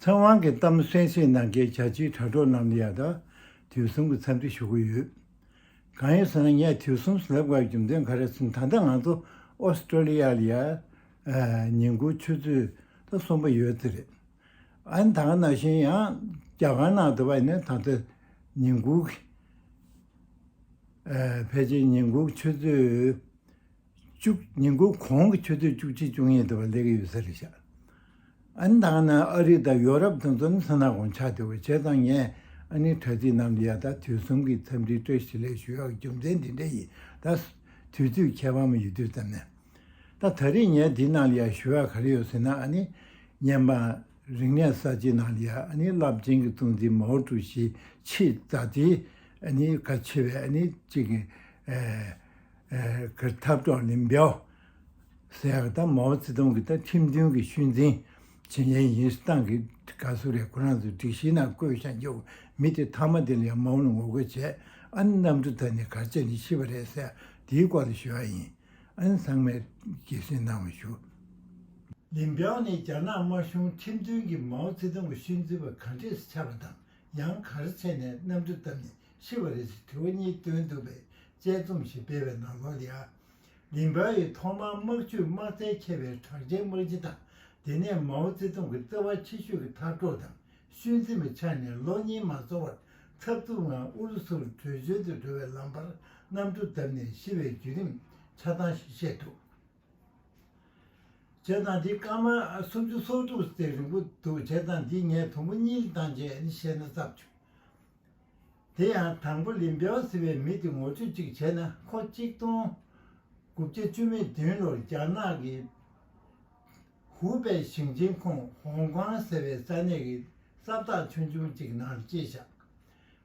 ཚེ་དབང་གིས་གཏམ་གསན་བཤད་གནང་མཁན་བྱ་བྱེའི་དྲ་གྲོགས་རྣམས་ལ་ཡང་དག་དུས་གསུམ་གྱི་འཚམས་འདྲི་ཞུ་གི་ཡོད། གང་ཡིན་ཟེར་ན་ངས་དུས་གསུམ་བསླབ་གྲྭའི་རྒྱུ་མཚན་ག་རེ་ཟིན་ད་ལྟ་ང་ཚོ Australia ལ་ཡར་ཉིན་གུང་ཆུ་ཚོད་ད་གསུམ་པ་ཡོད་ཚེ་རེད། ཨན་དང་ནང་བཞིན་ཡང་རྒྱ་གར་ནང་དུ་བས་ནས་ད་ལྟ་ཉིན་གུང་གི་ཕལ་ཆེར་ཉིན་གུང་ཆུ་ཚོད། བཅུ། ཉིན་དགུང་གོང་གི་ཆུ་ཚོད་བཅུ་གཅིག་བཅུ་གཉིས་དེ་བར་སླེབས་ཀྱི་ཡོད་ས་རེད་ཤག་ཨན་ད་ནི་ཨ་རི་དང་ཡོ་རབ་དང་མཚོ་ནུབ་ས་ན་གོང་ཆགས་དེ་བས་བྱས་ཙང་ངས་ཨ་ནི་དྲ་ཚིགས་ནང་དུ་ཡང་ད་དུས་གསུམ་གྱི་འཚམས་འདྲི་བཀྲ་ཤིས་ལེགས་ཞུ་ཡག་རྒྱུ་མཚན་དེ་འདྲ་ཡིན་ད་དུས་ཚོད་ཁྱད་པར་མ་ཡོད་དུས་ཙམ་ནས་ད་ད་རེས་ངས་དེའི་ནང་ལ་ཡང་ཞུ་ཡག་ག་རེ་ཡོད་ཟེར་ན་ཨ་ནི་བརྙན་པ་རིག་གནས་གསར་བརྗེའི་ནང་ལ་ཡང་ཨ་ནི་རླབས་ཆེན་གྱི་གཙོ་འཛིན་མའོ་ཀྲུའུ་ཞིའི་ཆེས་མཛའ་བརྩེའི་ཨ་ནི་ག་ཆེ་བའི་ཨ་ནི་གཅིག་གི། གི་འཐབ་གྲོགས་ལིན་པའོ་སེ་ཡང་ཏང་མའོ་ཙེ་ཏུང་གི་ཏང་ཁྲིམས་མཐུན་གྱི་ཤུལ་འཛིན་བྱེད་མཁན་ཡིན་ཞེས་ཏང་གི་དགའ་བསུ་རེ་ཁོ་རང་ཚོའི་སྒྲིག་གཞིའི་ནང་བཀོད་བཞག་རྒྱུ་མི་དེ་མཐའ་མ་དེ་ལ་ཡང་མ་འོངས་ལ་ངོ་རྒོལ་བྱེད་ཨ་ནི་གནམ་གྲུ་དག་ནི་གར་བྱེད་ནས་ཤི་བ་རེད་ཟེར་ཡ་དེའི་སྐོར་ལ་ཞུ་ཡ་ཡིན་ཨ་ནི་ཚང་མས་དགྱེས་བཞིན་གནང་བ་ཞུ། ལིན་པའོ་ནི་རྒྱ་ནག་དམར་གཞུང་ཁྲིམས་མཐུན་གྱི་མའོ་ཙེ་ཏུང་གི་ཤུལ་འཛིན་པ་ག་འདྲས་སུ་ཆགས་པ་དང་ཡང་གར་བྱེད་ནས་གནམ་གྲུ་བཏབ་ནས་ཤི་བ་རེད་ཅེས་དྲི་བ་གཉིས་བཏོན་འདུག་པའི་དཔྱད་རྩོམ་ཞིག་སྤེལ་བའི་ནང་ལོ་ལེ་ཨ། ལིན་པའོ་ཡིས་ཐོག་མར་དམག་བྱུས་དམག་རྩལ་ཁྱད་པའི་དྲག་ཆས་དམག་སྤྱི་དང་དེ་ནས་མའོ་ཙེ་ཏུང་གི་བརྩེ་བ་ཆེ་ཤོས་ཀྱི་མཐར་སྤྲོ་དང་ཤུལ་འཛིན་པའི་ཆ་ནས་ལོ་གཉིས་མ་འཚོ་བར་འཚབ་འཚུབ་ངང་ཨུ་རུ་སུར་བྲོས་བྱོལ་དུ་འགྲོ་བའི་ལམ་བར་གནམ་གྲུ་བརྡབས་ནས་ཤི་བའི་བརྒྱུད་རིམ་ཆ་ཚང་ཞིག་བཤད་འདུག་བྱས་ཙང་འདི་སྐར་མ་སུམ་ཅུ་སོ་དྲུག་ཟེར་རིང་པོ་འདུག་བྱས་ཙང་འདི་ངས་དུམ་བུ་གཉིས་ལ་བཏང་རྗེས་ནི་བཤད་ན་བརྩམས་ཆོས་དེ་ཡང་དང་པོ་ལིན་པའོ་ཟེར་བའི་མི་དེ་ངོ་སྤྲོད་ཅིག་བྱས་ན་ཁོ་གཅིག་སྟོང་དགུ་བརྒྱ་བཅུ་མེད་བདུན་ལོར་རྒྱ་ནག་གི་ཧུའུ་པེ་ཞིང་ཆེན་ཁོངས་ཧོང་ཀོང་ཟེར་བའི་ས་གནས་ཀྱི་གསབ་རྟགས་ཆུང་ཆུང་གཅིག་ནང་སྐྱེས་བཞག་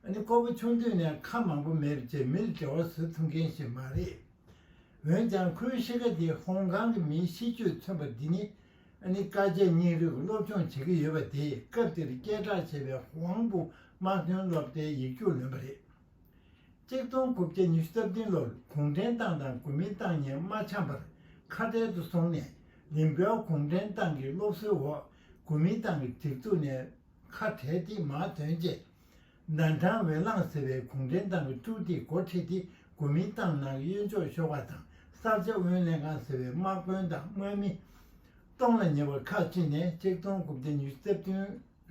ཨ་ནི་སྐོར་པ་ཆུང་དུས་ནས་ཁ་མང་པོ་མེད་ཅེས་མིར་འབྲེལ་བ་བཟོ་ཐུབ་མཁན་ཞིག་མ་རེད། འོན་ཀྱང་ཁོའི་གཤིས་ཀ་དེ་ཧོང་ཀང་གི་མིའི་གཤིས་སྤྱོད་མཚོན་པ་འདི་ནི་ནི་དཀའ་སྤྱད་སྙིང་རུས་ཀྱི་སློབ་སྦྱོང་བྱེད་ཀྱི་ཡོད་པ་དེས་སྐབས་དེར་སྐད་གྲགས་ཆེ་བའི་ཧུའང་པུའུ་དམག་དོན་སློབ་གྲྭའི་ཡིག་རྒྱུགས་ལོན་པ་རེད། གཅིག་སྟོང་དགུ་བརྒྱ་ཉི་ཤུ་རྩ་བདུན་ལོར་གུང་ཁྲན་ཏང་དང་གོ་མིན་ཏང་གཉིས་མ་འཆམ་པར་ཁ་བྲལ་དུ་སོང་ནས་ལིན་པའོ་གུང་ཁྲན་ཏང་གི་སློབ་གསོའི་འོག་གོ་མིན་ཏང་གི་སྒྲིག་འཛུགས་ནས་ཁ་བྲལ་ཏེ་དམག་དོན་བཅས་ནན་ཁྲང་ཝེ་ལང་ཟེར་བའི་གུང་ཁྲན་ཏང་གི་ཀྲུའུ་ཏེས་འགོ་ཁྲིད་དེ་དགུ་མིང་ཏང་ནང་གི་གཡོན་ཕྱོགས་ཤོག་ཁག་དང་གསར་བརྗེ་དབུས་ལྷན་ཁང་ཟེར་བའི་དམག་དཔོན་དང་དངོས་མི། སྟོང་ལ་ཉེ་བ་ཁག་གཅིག་ནས་གཅིག་སྟོང་དགུ་བརྒྱ་ཉིས་བརྩེགས་བདུན་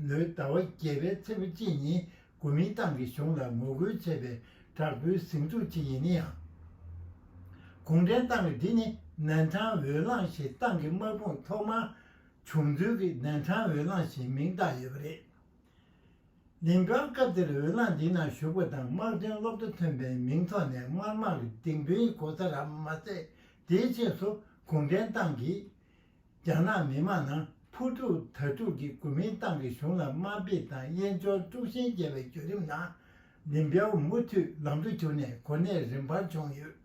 ལོའི་ཟླ་བ་བརྒྱད་པའི་ཚེས་བཅུ་གཅིག་ཉིན་དགུ་མིང་ཏང་གི་གཞུང་ལ་ངོ་རྒོལ་བྱས་པའི་དྲག་པོའི་ཟིང་འཁྲུག་ཅིག་ཡིན་ན་ཡང། གུང་ཁྲན་ཏང་གི་འདི་ནི་ནན་ཁྲང་ཝེ་ལང་ཞེས་ཏང་གི་དམག་དཔུང་ཐོག་མར་བྱུང་ཚུལ་གྱི་ནན་ཁྲང་ཝེ་ལང་ཞེས་མིང་བཏགས་ཡོད་པ་རེད། ལིན་ཀང་སྐབས་དེར་འོས་ལངས་འདི་ནང་ཞུགས་པ་དང་དམག་དོན་སློབ་གྲྭ་ཐོན་པའི་མིང་ཐོག་ནས་དམར་དམག་གི་སྡིངས་དཔོན་གོ་ས་ར་མ་ཟད་དེའི་ཆེས་སུ་གུང་ཁྲན་ཏང་གིས་རྒྱ་ནག་མི་དམངས་ནང་ཕུ་དཀྲུག་དྭ་དཀྲུག་གི་གོ་མིན་ཏང་གི་གཞུང་ལ་དམའ་འབེབས་དང་གཡེན་འཆོར་དཀྲུག་ཤིང་རྒྱབ་པའི་བརྒྱུད་རིམ་ནང་ལིན་པའོ་མུ་མཐུད་ལམ་དུ་གྱུར་ནས་གོ་གནས་རིམ་འཕར་བྱུང་ཡོད།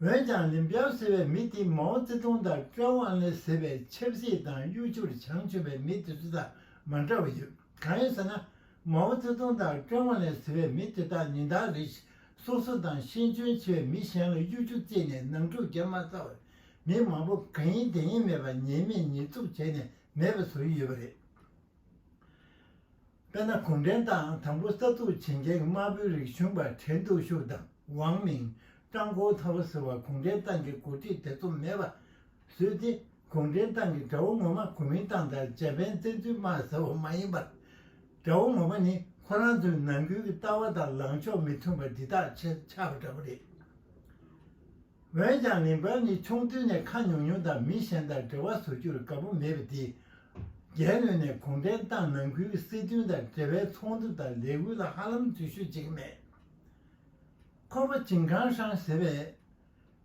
ཡོད། འོན་ཀྱང་ལིན་པའོ་ཟེར་བའི་མི་དེས་མའོ་ཙེ་ཏུང་དང་ཀྲེན་ཝང་ལེ་ཟེར་བའི་ཆབ་སྲིད་དང་གཡོ་སྒྱུར་བྱང་ཆུབ་པའི་མི་དེ་ཚོ་དང་མ་འདྲ་བ་ཡོད། གང་ཡིན་ཟེར་ན། མའོ་ཙེ་ཏུང་དང་ཀྲེན་ཝང་ལེ་ཟེར་བའི་མི་དེ་དག་ཉིན་ལྟར་རིས་སོ་སོ་དང་ཤེས་འཇོན་ཆེ་བའི་མི་གཞན་ལ་གཡོ་སྒྱུ་རྩིས་ནས་ནང་འཁྲུག་རྒྱག་མ་ཚར་བར་མི་མང་པོ་གང་ཡིན་དེ་ཡིན་མེད་པར་ཉེས་མེད་ཉེས་འཛུགས་བྱས་ནས་མེད་པ་བཟོ་ཡི་ཡོད་པ་རེད། དཔལ་ནཱ་གུང་ཁྲན་ཏང་དང་པོ་གསར་འཛུགས་བྱེད་མཁན་གྱི་དམར་པོའི་རིག་གཞུང་པ་བྲལ་འདུག་ཤུག་དང་ཝང་མིང་ཀྲང་གོང་ཐང་པོ་ཟེར་བ་གུང་ཁྲན་ཏང་གི་འགོ་ཁྲིད་ཐེ་ཚོམ་མེད་པ་བཟོས་ཏེ་གུང་ཁྲན་ཏང་གི་དགྲ་བོ་ངོ་མ་གོ་མིན་ཏང་དང་ཇེ་པེན་བཙན་འཛུལ་དམག་ཟེར་བ་མ་ཡིན་པར། དགྲ་བོ་ངོ་མ་ནི་ཁོ་རང་ཚོའི་ནང་ཁུལ་གྱི་ལྟ་བ་དང་ལངས་ཕྱོགས་མི་མཐུན་པ་འདི་དག་ཆགས་པ་འདྲ་པོ་རེད། འོན་ཀྱང་ལིན་པར་ནི་ཆུང་དུས་ནས་ཁ་ཉུང་ཉུང་དང་མི་གཞན་དང་འབྲེལ་བ་བཟོ་རྒྱུར་དགའ་པོ་མེད་པ་དེས། རྒྱལ་ལོས་ནས་གུང་ཁྲན་ཏང་ནང་ཁུལ་གྱི་སྲིད་དོན་དང་འབྲེལ་བའི་ཚོགས་འདུ་དང་ལས་འགུལ་ལ་ཧ་ལམ་འཛུལ་ཞུགས་བྱེད་ཀྱི་མེད། ཁོ་པ་ཅིང་ཁང་ཧྲང་ཟེར་བས།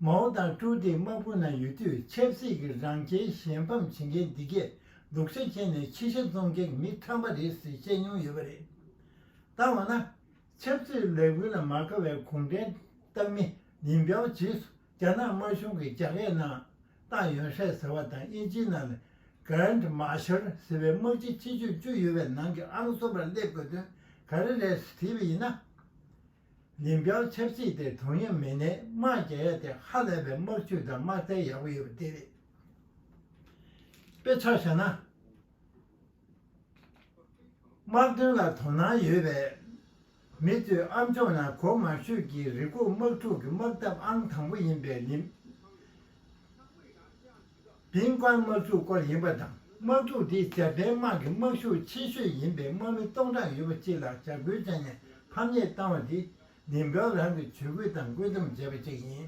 མའོ་དང་ཀྲུའུ་ཏེ་དམག་དཔུང་ནང་ཡོད་དུས་ཆབ་སྲིད་ཀྱི་རང་ཁྱེར་གཞན་ཕམ་བྱེད་མཁན་འདི་གས་ལུག་ཤ་ཁྱེར་ནས་ཕྱི་ཤ་བཙོང་མཁན་གྱི་མི་ཁྲམ་པ་རེད་ཟེར་བཤད་མྱོང་ཡོད་པ་རེད། ད་འོ་ན། ཆབ་སྲིད་ལས་འགུལ་ལ་མ་དགའ་བའི་གུང་ཁྲན་ཏང་མི་ཉིན་གྱང་རྗེས་སུ་རྒྱ་ནག་དམར་གཞུང་གིས་རྒྱ་སྐད་ནང་ཏང་ཡོན་ཧྲེ་ཟེར་བ་དང་དབྱིན་ཇིའི་ནང་ནས Grand Marshal ཟེར་བའི་དམག་སྤྱི་ཆེ་ཤོས་བཅུ་ཡོད་པའི་ནང་གི་ཨང་གསུམ་པར་སླེབས་དགོས་དོན་ག་རེ་རེད་དྲིས་པ་ཡིན་ན། ཉིན་གྱང་ཆབ་སྲིད་དེ་དུང་ཡབ་མེད་ནས་དམག་རྒྱག་ཡ་དེ་ཧ་ལས་པའི་དམག་ཇུས་དང་དམག་རྩལ་ཡག་པོ་ཡོད་པ་དེ་རེད། དཔེ་ཆ་བཞག་ན། དམག་དོན་ལ་དོ་སྣང་ཡོད་པས། མི་ཚོས་ཨ་མཆོག་ནང་གོ་མ་ཤོད་ཀྱི་རི་སྐོར་དམག་འཁྲུག་གི་དམག་འཐབ་ཨང་དང་པོ་ཡིན་པའི་ལིན་པིན་ཀཱན་དམག་འཁྲུག་སྐོར་ཡིན་པ་དང་དམག་འཁྲུག་དེ་འཇར་པན་དམག་གི་དམག་ཤུགས་ཆེ་ཤོས་ཡིན་པའི་དམག་མི་སྟོང་ཕྲག་ཡོད་པ་གཅིག་ལ་འཇབ་རྒོལ་བྱས་ནས་ཕམ་ཉེས་བཏང་བ་དེ་ལིན་པིན་ཀཱན་རང་གིས་ཇུས་འགོད་དང་བཀོད་འདོམས་བྱས་པ་གཅིག་ཡིན།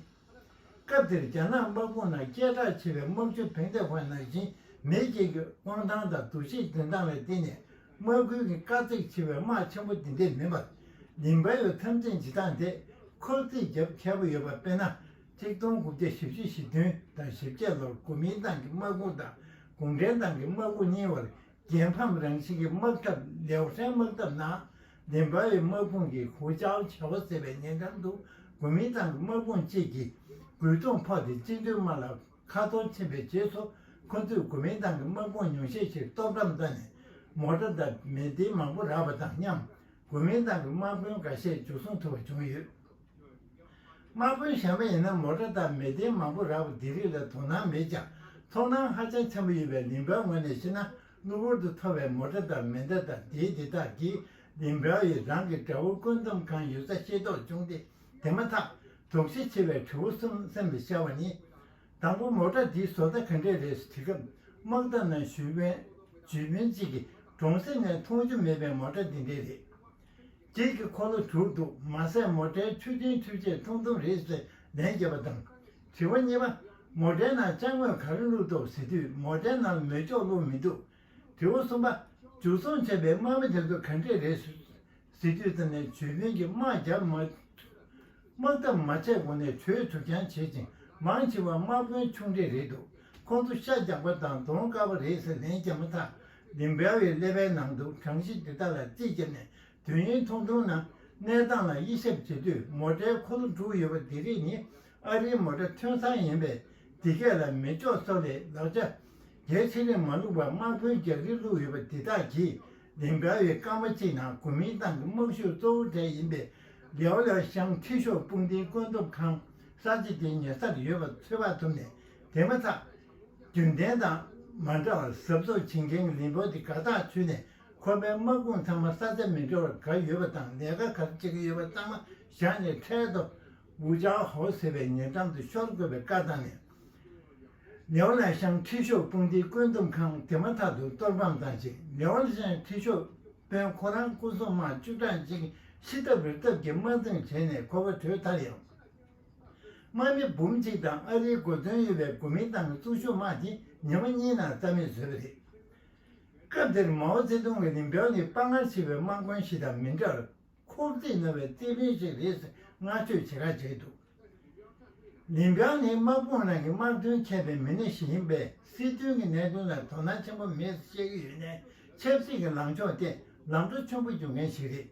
སྐབས་དེར་རྒྱ་ནག་དམག་དཔུང་ནང་སྐད་གྲགས་ཆེ་བའི་དམག་སྤྱི་ཕེང་ཏེ་ཧོན་ནང་ཞིང་མེད་སྐྱེས་ཀྱི་དབང་ཐང་དང་འདུ་ཤེས་འཛིན་སྟངས་ལ་བརྟེན་ནས་དམག་ཁུལ་གྱི་དཀའ་ཚེགས་ཆེ་བའི་དམག་ཆེན་པོ་འདི་འདྲས་མིན་པར། ལིན་བཱ་ཡོ་འཐབ་འཛིང་བྱེད་སྟངས་དེས་ཁོ་རྩིས་རྒྱབ་མཁས་པོ་ཡོད་པ་དཔེར་ན། གཅིག་སྟོང་དགུ་བརྒྱ་ཞེ་བཞི་ཞེ་བདུན་དང་ཞེ་བརྒྱད་ལོར་གོ་མིན་ཏང་གི་དམག་དཔུང་དང་གུང་ཁྲན་ཏང་གི་དམག་དཔུང་གཉིས་བར་རྒྱལ་ཕམ་རང་བཞིན་གྱི་དམག་འཐབ་ལེའོ་ཧྲན་དམག་འཐབ་ནང་བདེན་པ་ཡི་དམག་དཔུང་གིས་ཧུའུ་ཅའོ་བྱ་བ་ཟེར་བའི་ཉེ་འགྲམ་དུ་གོ་མིན་ཏང་གི་དམག་དཔུང་བཅས་ཀྱིས་རྒོལ་རྡུང་ཕོག་སྟེ་སྤྱི་འཐུས་དམར་ལ་ཁ་གཏོར་ཕྱིན་པའི་རྗེས་སུ་ཁོ་ཚོས་གོ་མིན་ཏང་གི་དམག་དཔུང་ཉུང་ཤས་ཤིག་གཏོར་སྒྲོམ་བཏང་ནས་མོ་ཏྲ་དང་མེ་མདའི་མང་པོ་རག་པ་དང་མཉམ་གོ་མིན་ཏང་གི་དམག་དཔོན་འགའ་ཤས་འཇུ་བཟུང་ཐུབ་པ་བྱུང་ཡོད། དམག་དཔོན་གཞན་པ་ཡིན་ན་མོ་ཏྲ་དང་མེ་མདའི་མང་པོ་རག་པ་འདི་རིགས་ལ་དོ་སྣང་མེད་ཀྱང་ཚོར་སྣང་ཧ་ཅང་ཆེན་པོ་ཡོད་པའི་ལིན་པའི་ངོས་ནས་བཤད་ན། གློ་བུར་དུ་ཐོབ་པའི་མོ་སྒྲ་དང་མེ་མདའ་དང་དེའི་སྡེ་དག་གིས་ལིན་པའོ་ཡིས་རང་གི་དགྲ་བོ་བཀོད་འདོམས་གང་ཡོད་ས་ཤེས་རྟོགས་བྱུང་སྟེ་དེ་མ་ཐག་དོགས་གཞི་ཆེ་བའི་གྲུ་བོ་གསུམ་སེམས་སུ་ཤར་བ་ནི། དང་པོ་མོ་སྒྲ་འདིའི་བཟོ་ལྟ་ག་འདྲས་རེད་ཟེར་དུས་སྐམ་དམག་དར་ནག་ཞུས་བོན། ཇུས་བོན་གཅིག་གིས་གྲོང་གསེབ་ནས་མཐོང་རྒྱུ་མེད་པའི་མོ་སྒྲ་འདི་འདྲས་རེད། ཁྱེད་ཀྱི་འཁོར་ལོ་དྲུག་འདུག་མ་ཟད་མོ་སྒྲའི་མཆུ་རྒྱུན་མཐུད་ཆས་ཐུང་ཐུང་རེད་ཟེར་ལན་བརྒྱབ་པ་དང། དྲི་བ་གཉིས་པ། མོ་དྲའི་ནང་ལྕགས་མོས་ག་རེ་བླུགས་འདུག་ཟེར་དུས་མོ་དྲའི་ནང་ལ་མེ་སྒྱོགས་བླུགས་མི་འདུག་དྲི་བ་གསུམ་པ། འཇུ་བཟུང་བྱས་པའི་དམག་མི་དེ་ཚོ་ག་འདྲས་རེད། ཟེར་དུས་ཙམ་ནས་བྱོལ་བོད་ཀྱི་དམག་རྒྱག་མ་ཐུབ། དམག་འཐབ་མ་བྱས་གོང་ནས་བྲོས་ཐུབ་རྐྱང་བྱེད་ཅིང་མང་ཆེ་བ་དམག་དཔོན་ཆུང་གྲས་རེད་འདུག་ཁོང་ཚོ་ཤ་རྒྱག་པ་དང་གདོང་དཀར་བ་རེད་ཟེར་ལན་བརྒྱབ་མ་ཐག་ལིམ་བྷེ་བའི་ཀླད་པའི་ནང་དུ་གྲངས་གཞི་འདི་དག་ལ་རྩིས་བརྒྱབ་ནས་དུས་ཡུན་ཐུང་ཐུང་ནང་གནས་སྟངས་ལ་དབྱེ་ཞིབ་བྱེད་དུས་མོ་ཏྲའི་འཁོར་ལོ་དྲུག་ཡོད་པ་དེ་རིགས་ནི་ཨ་རིའི་མོ་ཏྲ་ཐོན་སྲང་ཡིན་པས་དེ་སྐད་ལ་མི་ལྕོགས་སོགས་ལས་ལག་ཆ་རྒྱའི་ཚན་རིག་མ་ལུག་པ་དམག་དཔོན་རྒྱག་རིང་ལུགས་ཡོད་པ་འདི་དག་གིས་ལིང་ག་བའི་སྐར་མ་གཅིག་ནང་གོ་མིན་ཏང་གི་དམག་ཤུགས་གཙོ་བོ་གྲས་ཡིན་པའི་ལེའོ་ལེའོ་ཤང་ཁྲི་ཤོག་དཔུང་སྡེའི་བཀོད་འདོམས་ཁང་གསར་བརྗེ་དེའི་ཉེ་སར་ཡོད་པ་ཚོད་དཔག་ཐུབ་ནས་དེ་མ་ཐག་རྒྱུན་ལྡན་དང་མ་འདྲ་བར་ཟབ་ཚོགས་བྱེད་མཁན་གྱི་ལིན་པོ་ཏི་དགའ་ཐག་ཆོད་ནས་ཁོ་པའི་དམག་དཔུང་ཚང་མ་ས་ཆ་མི་འདྲ་བར་གར་ཡོད་པ་དང་ལས་ཀ་ག་རེ་བྱེད་ཀྱི་ཡོད་པ་ཚང་མ་བཞག་ནས་འཕྲལ་དུ། ཝུ་ཅའོ་ཧོ་ཟེར་བའི་ཉེ་འགྲམ་དུ་ཤོར་དགོས་པའི་བཀའ་བཏང་ནས། ལེའོ་ལན་ཤང་ཁྲི་ཤོག་དཔུང་སྡེའི་བཀོད་འདོམས་ཁང་དེ་མ་ཐག་ཏུ་གཏོར་ཕམ་བཏང་རྗེས་ལེའོ་ལན་ཁྲི་ཤོག་དཔོན་ཁོ་རང་སྐུ་སྲུང་དམག་བཅུ་གྲངས་གཅིག་ཤི་ཐབས་རི་ཐབས་ཀྱི་དམག་འཛིང་བྱས་ནས་ཁོ་པ་བྲོས་མཐར་ཡང། དམག་མི་འབུམ་གཅིག་དང་ཨ་རིའི་མགོ་ཐོན་ཡོད་པའི་གོ་མིན་ཏང་གི་ཙུང་ཞུ་དམག་དེ་ཉི་མ་གཉིས་ནང་རྩ་མེད་བཟོས་པ་རེད། སྐབས་དེར་མའོ་ཙེ་ཏུང་གི་རིམ་གྲོ་ནི་དཔའ་ངར་ཆེ་བའི་དམག་དཔོན་ཞིག་དང་མི་འདྲར་ཁོག་རྩིས་རྣོ་བའི་རྩེད་འགྲན་ཞིག་རེད་ཟེར་བསྔགས་བརྗོད་ཆེ་ཁག་བྱས་འདུག་རིམ་གྲོ་ནི་དམག་དཔུང་ནང་གི་དམག་དོན་མཁས་པའི་མི་སྣ་ཞིག་ཡིན་པས་སྲིད་དོན་གྱི་གནད་དོན་ལ་དོ་སྣང་ཆེན་པོ་མེད་ཤེས་ཀྱི་ཡོད་ནའི་ཆབ་སྲིད་ཀྱི་ལངས་ཕྱོགས་ཐད་ལམ་འགྲོ་ཆེན་པོ་བྱུང་མཁན་ཞིག་རེད།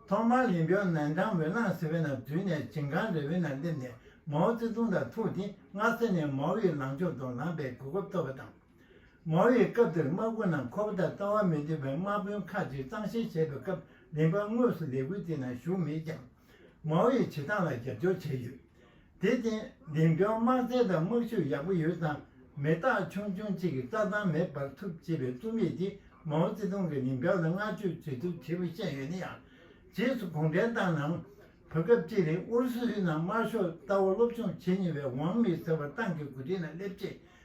ཐོག་མར་རིམ་གྲོ་ནན་ཀྲང་ཝེ་ལང་ཟེར་བའི་ནང་འཛུལ་ནས་ཇིང་ཁང་རེ་བའི་ནང་སླེབས་ནས་མའོ་ཙེ་ཏུང་དང་ཐུག་སྟེ་སྔ་ས་ནས་མའོ་ཡི་ལངས་ཕྱོགས་དང་ལངས་པའི་གོ་སྐབས་ཐོབ་པ་དང། མའོ་ཡིས་སྐབས་དེར་དམག་དཔོན་རྣམས་ཁོ་པ་དང་ལྟ་བ་མི་འདྲ་བའི་དམག་དཔོན་ཁག་ཅིག་གཙང་བཤེར་བྱེད་པའི་སྐབས་རིམ་པ་དངོས་སུ་ལས་འགུལ་དེའི་ནང་ཞུགས་མེད་ཀྱང། མའོ་ཡི་བྱེད་སྟངས་ལ་རྒྱབ་སྐྱོར་བྱས་ཡོད། དེར་བརྟེན་འདེམས་སྐྱོར་དམག་རྩལ་དང་དམག་ཤུགས་ཡག་པོ་ཡོད་ཙང་མི་རྟག་ཆུང་ཆུང་གཅིག་གིས་རྩྭ་ཐང་མེ་སྦར་ཐུབ་ཅེས་པའི་རྩོམ་ཡིག་དེས་མའོ་ཙེ་ཏུང་གིས་འདེམས་སྐྱོར་ལ་བསྔགས་བརྗོད་བྱེད་ཐུབ་ཅེས་པ་བཤད་ཡོད་ན་ཡང། རྗེས་སུ་གུང་ཁྲན་ཏང་ནང་བུད་སྐབས་ཅི་རིང་ཨུ་རུ་སུའི་ནང་དམར་ཤོག་ལྟ་བ་སློབ་སྦྱོང་བྱེད་ཉེ་བའི་ཝང་མི་ཟེར་བ་ཏང་གི་འགོ་ཁྲིད་ནང་སླེབས་རྗེས་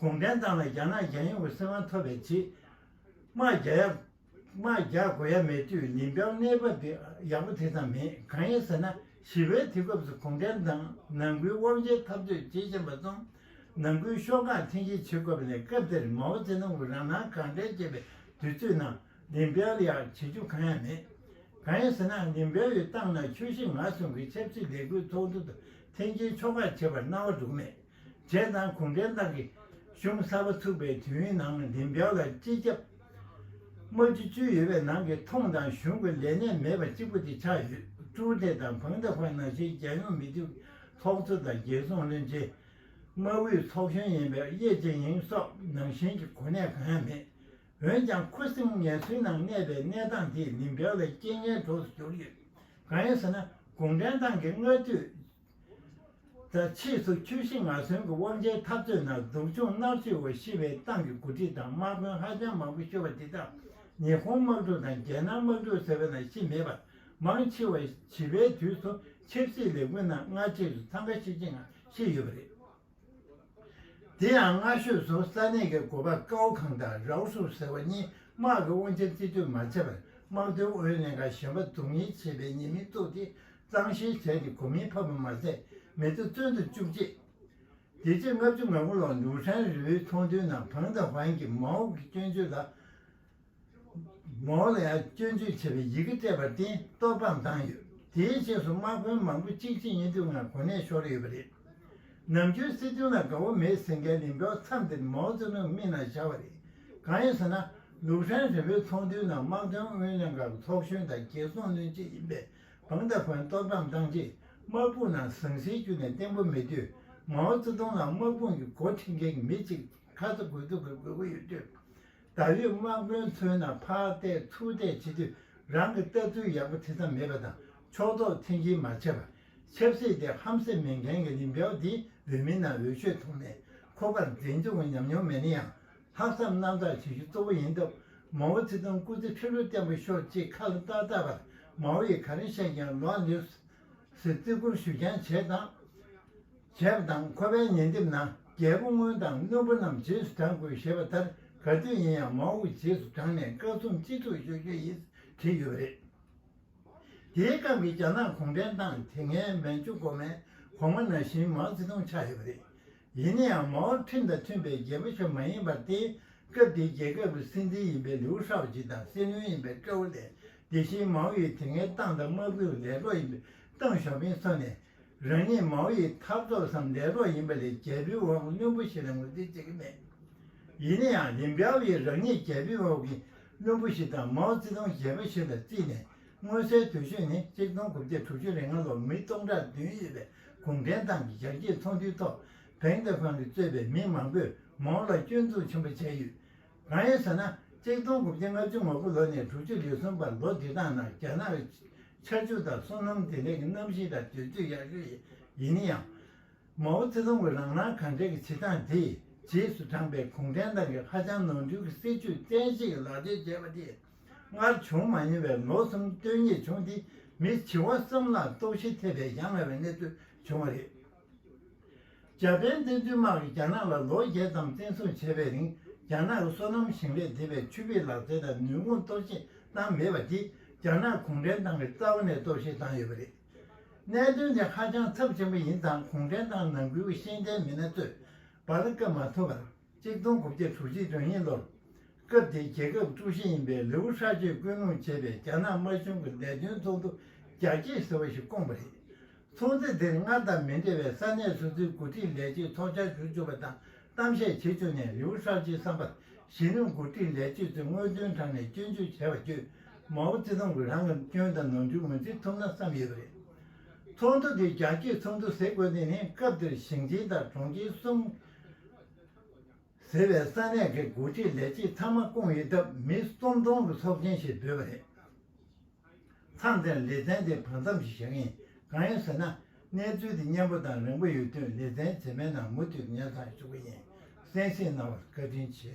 གུང་ཁྲན་ཏང་ལ་རྒྱ་ནག་རྒྱལ་ཡོངས་ཀྱི་སྲིད་དབང་ཐོབ་པའི་རྗེས། དམག་རྒྱག་དགོས་ཡ་མེད་དུས་ནིམ་པའོ་གནས་བབ་དེ་ཡག་པོ་དེ་ཙམ་མེད་གང་ཡིན་ཟེར་ན་ཞི་བའི་དུས་སྐབས་སུ་གུང་ཁྲན་ཏང་ནང་ཁུལ་དབང་ཆའི་འཐབ་རྩོད་ཇེ་ཞན་པ་སོང། ནང་ཁུལ་ཤོག་ཁག་འཐེན་འཁྱེར་བྱེད་དགོས་པ་ནས་སྐབས་དེར་མའོ་ཙེ་ཏུང་གིས་རང་སྣང་གང་དྲན་བྱེད་པའི་དུས་ཚོད་ནང་ལིན་པའོ་ལ་ཡག་བྱེད་རྒྱུ་གང་ཡང་མེད། གང་ཡིན་ཟེར་ན་ལིན་པའོ་ཡི་ཏང་ནང་ཆོས་ཞེ་ང་གསུམ་གྱི་ཆབ་སྲིད་ལས་འགུལ་ཚོགས་འདུ་དང་འཐེན་འཁྱེར་ཕྱོགས་ཁག་བྱེད་པར་སྣང་བ་འགྲོ་གི་མེད། རྗེས་གནང་གུང་ཁྲན་ཏང་གི་གཞུང་གསར་པ་ཚུགས་པའི་དུས་ནང་བདེ་འཇགས་ལ་སྤྱི་ཁྱབ། དམག་སྤྱི་བཅུ་ཡོད་པའི་ནང་གི་མཐོང་དང་གཞུང་གི་ལས་གནས་མེད་པ་གཅིག་པུ་དེ་ཆགས་ཡོད། ཀྲུའུ་ཏེ་དང་ཕང་ཏེ་ཧོས་ནང་བཞིན་རྒྱལ་ཡོངས་མི་རིགས་ཚོགས་གཙོ་དང་རྒྱལ་སྲུང་བློན་ཆེན། དམག་ཨུའི་ཚོགས་གཞོན་ཡིན་པའི་ཡེ་ཅན་ཡེང་སོགས་ནང་བཞིན་གྱི་གོ་གནས་གང་ཡང་མེད། འོན་ཀྱང་ཁུ་སིམ་ངལ་གསོའི་ནང་གནས་པའི་གནས་སྟངས་དེས་བདེ་འཇགས་ལ་རྐྱེན་ངན་གྲོགས་སུ་གྱུར་ཡོད། གང་ཡིན་ཟེར་ན་གུང་ཁྲན་ཏང་གིས་སྔ་དུས། ད་ཕྱིས་སུ་ཁྱོད་ཤི་ང་གསོན་གྱི་དབང་ཆའི་འཐབ་རྩོད་ནང་སྡུག་སྦྱོང་མནར་གཅོད་འོག་ཤི་བའི་ཏང་གི་འགོ་ཁྲིད་དང་དམག་དཔོན་ཧ་ཅང་མང་པོ་ཤོར་བ་དེ་དག་ཉི་ཧོང་དམག་འཁྲུག་དང་རྒྱལ་ནང་དམག་འཁྲུག་ཟེར་བའི་ནང་ཤི་མེད་པར་མང་ཆེ་བ་བྱིས་པའི་དུས་སུ་ཆབ་སྲིད་ལས་འགུལ་ནང་སྔ་རྗེས་སུ་འཚང་ཁ་ཤིག་བྱེད་ངང་ཤི་ཡོད་པ་རེད། དེ་ཡང་སྔ་ཤོས་སུ་ས་གནས་ཀྱི་གོ་པ་ཀའོ་ཁང་དང་རའོ་སུའུ་ཟེར་བ་གཉིས་དམག་གི་དབང་ཆ་རྩིས་སྤྲོད་མ་བྱས་པར་དམག་དོན་ཨུ་ཡོན་ལྷན་ཁང་གཞན་པ་རྫོང་གཉེར་བྱེད་པའི་ཉེས་མིང་བཙུགས་ཏེ་གཙང་བཤེར་བྱས་ཏེ་གོ་མིང་ཕབ་པ་མ་ཟད་མི་ཚེ་བཙོན་དུ་བཅུག་རྗེས། དེ་རྗེས་ལྔ་བཅུ་ང་དགུ་ལོར་ལུའུ་ཧྲན་རི་བོའི་ཚོགས་འདུའི་ནང་བང་དཱ་བྷན་གྱིས་མའོ་ཀི་སྐྱོན་བརྗོད་ལ། མོ་ལ་ཡང་སྐྱོན་བརྗོད་བྱེད་པའི་ཡི་གེ་སྤྲད་པར་བརྟེན་གཏོར་སྤང་བཏང་ཡོད། དེའི་རྗེས་སུ་དམག་དཔོན་མང་པོ་གཅིག་རྗེས་གཉིས་མཐུད་ངང་གོ་གནས་ཤོར་ཡོད་པ་རེད། ནམ་རྒྱུན་སྲིད་དོན་ལ་དགའ་བོ་མེད་ཟེར་མཁན་ལིན་པའོ་མཚམས་འདིར་མའོ་ཙེ་ཏུང་མིག་ནང་བཞག་པ་རེད། གང་ཡིན་ཟེར་ན། ལུག་ཧྲན་རི་བོའི་ཚོགས་འདུའི་ནང་དམག་དོན་ཨུ་ཡོན་ལྷན་ཁང་གི་ཚོགས་གཞོན་དང་རྒྱལ་སྲུང་བློན་ཆེན་ཡིན་པའི་བང་ཏཱ་ཧྥན་གཏོར་སྤང་བཏང་རྗེས་དམག་དཔུང་ནང་ཟང་ཟིང་བསྐྱུར་ནས་བརྟན་པོ་མེད་དུས། མའོ་ཙེ་ཏུང་ལ་དམག་དཔུང་གི་འགོ་འཁྲིད་མཁན་གྱི་མི་གཅིག་ཁ་ཚ་དགོས་གཏུག་གི་དགོས་མཁོ་ཡོད་དུས། ད་རེས་དམག་དཔོན་མཚོན་ན་ཕག་གཏད་ཐུག་གཏད་བྱེད་དུས་རང་གི་ལྟ་ཚུལ་ཡག་པོ་དེ་ཙམ་མེད་པ་དང་ཕྱོགས་གཏོགས་མཚན་གྱིས་མ་བྱས་པ། ཆབ་སྲིད་དེ་ཧམ་སེམས་མེད་མཁན་གྱི་རིམ་གྲོ་དེ་འོས་མི་རྣམས་འོས་ཆོས་ཐོག་ནས་ཁོ་པར་འཛིན་སྐྱོང་གི་ཉམས་མྱོང་མེད་ན་ཡང་ལྷག་བསམ་རྣམ་དག་བྱེད་རྒྱུ་གཙོ་བོ་ཡིན་སྟབས་མའོ་ཙེ་ཏུང་སྐུ་ཚེ་ཕྱི་རོལ་བརྟན་པོ་ཤོག་ཅེས་ཁ་ལ་བཏགས་བཏགས་པར་མའོ་ཡིས་ག་རེ་བཤད་ཀྱང་ལོག་ནས་སུ་ཟེར་བརྩི་བཀུར་ཞུ་རྐྱང་བྱས་དང། བྱས་པ་དང་ཁོ་པའི་ཉེ་འདེབས་ན་རྒྱལ་པོ་སྔོན་དང་རྣོན་པོ་རྣམས་རྗེས་སུ་འབྲང་དགོས་ཞེས་པ་ལྟར་ག་དུས་ཡིན་ཡང་མའོ་ཝུ་རྗེས་སུ་འབྲངས་ནས་བཀའ་གསུང་སྤྱི་འཐུས་ཤོག་རྒྱུ་ཡིན་བྲིས་ཡོད་པ་རེད། དེའི་སྐབས་ཀྱི་རྒྱ་ནག་གུང་ཁྲན་ཏང་དེ་སྔའི་མན་ཇུ་གོ་མན་གོང་མ་ན་བཞིན་མའོ་ཙེ་ཏུང་ཆགས་ཡོད་པ་རེད། ཡིན་ན་ཡང་མའོ་ཁྲིམས་དང་མཐུན་པའི་རྒྱལ་པོ་ཞིག་མ་ཡིན་པར་དེའི་སྐབས་དེའི་རྒྱལ་ཁབ་ཀྱི་སྲིད་འཛིན་ཡིན་པའི་ལིའུ་ཧྲའོ་ཇི་དང་སྲིད་བློན་ཡིན་པའི་ཀྲའོ་ལེ་དེ་བཞིན་མའོ་ཡི་དེ་སྔའི་ཏང་དང་དམག་དཔུང་ལས་བློ་ཡིན་པའི་ཏང་ཞའོ་ཕིང་སོགས་ནས་རང་ཉིད་མའོ་ཡི་འཐབ་རྩོད་སམ་འདས་གྲོངས་ཡིན་པ་ལས་རྒྱལ་པོའི་དབང་པོ་བླུན་པོ་ཞིག་ལ་ངོས་འཛིན་བྱེད་ཀྱི་མེད། ཡིན་ན་ཡང་ལིན་པའོ་ཡིས་རང་ཉིད་རྒྱལ་པོའི་དབང་པོ་བླུན་པོ་ཞིག་དང་མའོ་ཙེ་ཏུང་གཞས་པ་ཞིག་ལ་བརྩིས་ནས་མངོན་གསལ་དོད་ཤོས་ནི་གཅིག་སྟོང་དགུ་བརྒྱ་དྲུག་ཅུ་རེ་ལྔ་ལོར་མི་སྟོང་ཕྲག་བདུན་ཡོད་པའི་གུང་ཁྲན་ཏང་གི་ཞག་གཅིག་ཚོགས་འདུའི་ཐོག་བེང་ཏེ་ཧྥང་གིས་གཙོས་པའི་མི་མང་པོས་མའོ་ལ་སྐྱོན་འཛུགས་ཆེན་པོ་བྱས་ཡོད། གང་ཡིན་ཟེར་ན་གཅིག་སྟོང་དགུ་བརྒྱ་ལྔ་བཅུ་ང་དགུ་ལོ་ནས་དྲུག་ཅུ་ལེ་གསུམ་བར་ལོ་འདི་དག་ནང་རྒྱ་ནག་གི་ཆར་ཆུ་དང་སོ་ནམ་བདེ་ལེགས་ཀྱི་གནམ་གཤིས་དང་དུས་ཚོད་ཡག་ཤོས་ཡིན་ཡང། མའོ་ཙེ་ཏུང་གི་རང་སྣང་གང་དྲན་གྱི་བྱེད་སྟངས་དེས་རྗེས་སུ་འབྲངས་པའི་གུང་ཁྲན་ཏང་གིས་ཧ་ཅང་ནོར་འཁྲུལ་གྱི་སྲིད་ཇུས་བཙན་ཤེད་ཀྱིས་ལག་འབྲེལ་བྱས་པ་དེས་སྔར་བྱུང་མ་མྱོང་བའི་ལོ་གསུམ་སྟོན་ཉེས་བྱུང་སྟེ་མིས་བྱིས་བ་གསུམ་ལ་ལྟོགས་ཤི་ཐེབས་པའི་གཞའ་ང་བའི་གནས་ཚུལ་བྱུང་བ་རེད། འཇར་པན་བཙན་འཛུལ་དམག་གིས་རྒྱ་ནག་ལ་ལོ་བརྒྱད་ཙམ་བཙན་བཟུང་བྱས་པའི་རིང་རྒྱ་ནག་གི་སོ་ནམ་ཞིང་ལས་སྡེ་བའི་ཆུ་བེད་ལག་རྩལ་དང་ནུས་ཁུངས་གཏོར་བཤིག་བཏང་མེད་པ་འདིས་རྒྱ་ནག་གུང་ཁྲན་ཏང་གི་རྩ་བ་ནས་གཏོར་བཤིག་བཏང་ཡོད་པ་རེད། གནད་དོན་དེ་ཧ་ཅང་ཚབས་ཆེན་པོ་ཡིན་ཙང་གུང་ཁྲན་ཏང་ནང་ཁུལ་གྱི་ཤེས་ལྡན་མི་སྣ་ཚོས་བར་བཀབ་མ་ཐུབ་པར། གཅིག་སྟོང་དགུ་བརྒྱ་དྲུག་ཅུ་དོན་གཉིས་ལོར། སྐབས་དེའི་རྒྱལ་ཁབ་དཀྲུག་ཤིང་ཡིན་པའི་ལེའུ་ཧྲ་ཅོས་བསྐུལ་སློང་བྱས་པའི་རྒྱ་ནག་དམར་གཞུང་གི་ལས་དོན་ཚོགས་འདུ་རྒྱ་སྐྱེད་ཟེར་བ་ཞིག་བསྐོངས་པ་རེད། ཚོགས་འདུ་དེར་སྔར་དང་མི་འདྲ་བའི་ས་གནས་སོ་སོའི་འགོ་ཁྲིད་ལས་བྱེད་ཚོགས་བཅར་ཞུ་བཅུག་པ་དང་གཏམ་བཤད་བྱེད་བཅུག་ནས་ལེའུ་ཧྲ་ཅོའི་བསམ་པར་གཞིས་ལུས་འགོ་ཁྲིད་ལས་བྱེད་ཚོས་དངོས་དོན་དྲང་ནས་སྐྱོན་བརྗོད་བྱས་པ་བརྒྱུད་མའོ་ཙེ་ཏུང་གིས་རང་གི་སྐྱོན་དང་ནོར་འཁྲུལ་ངོས་འཛིན་ཐུབ་ན་བསམ་ཡོད་པ་རེད། ཚོགས་འདུ་དེ་རྒྱ་སྐྱེད་ཚོགས་འདུ་ཟེར་དགོས་དོན་ནི་སྐབས་དེར་ཞིང་ཆེན་དང་གྲོང་ཁྱེར་གསུམ་ཟེར་བའི་ས་གནས་ཀྱི་འགོ་ཁྲིད་ལས་བྱེད་ཚང་མ་བསྐོང་ཡོད་སྟབས་མི་གསུམ་སྟོང་གི་ཚོགས་ཆེན་ཞིག་བསྡུས་པ་རེད། མཚམས་དེར་ལེ་ཚན་དེ་བར་མཚམས་ཤིག་བཞག་གིན་ཡིན། གང་ཡིན་ཟེར་ན་གནས་ཚུལ་དེ་སྙན་པོ་དང་རིང་པོ་ཡོད་དུས་ལེ་ཚན་རྗེས་མའི་ནང་མུ་མཐུད་ངེད་ཚང་ཞུགས་པ་ཡིན་གསན་གཟིགས་གནང་བར་བཀའ་དྲིན་ཆེ།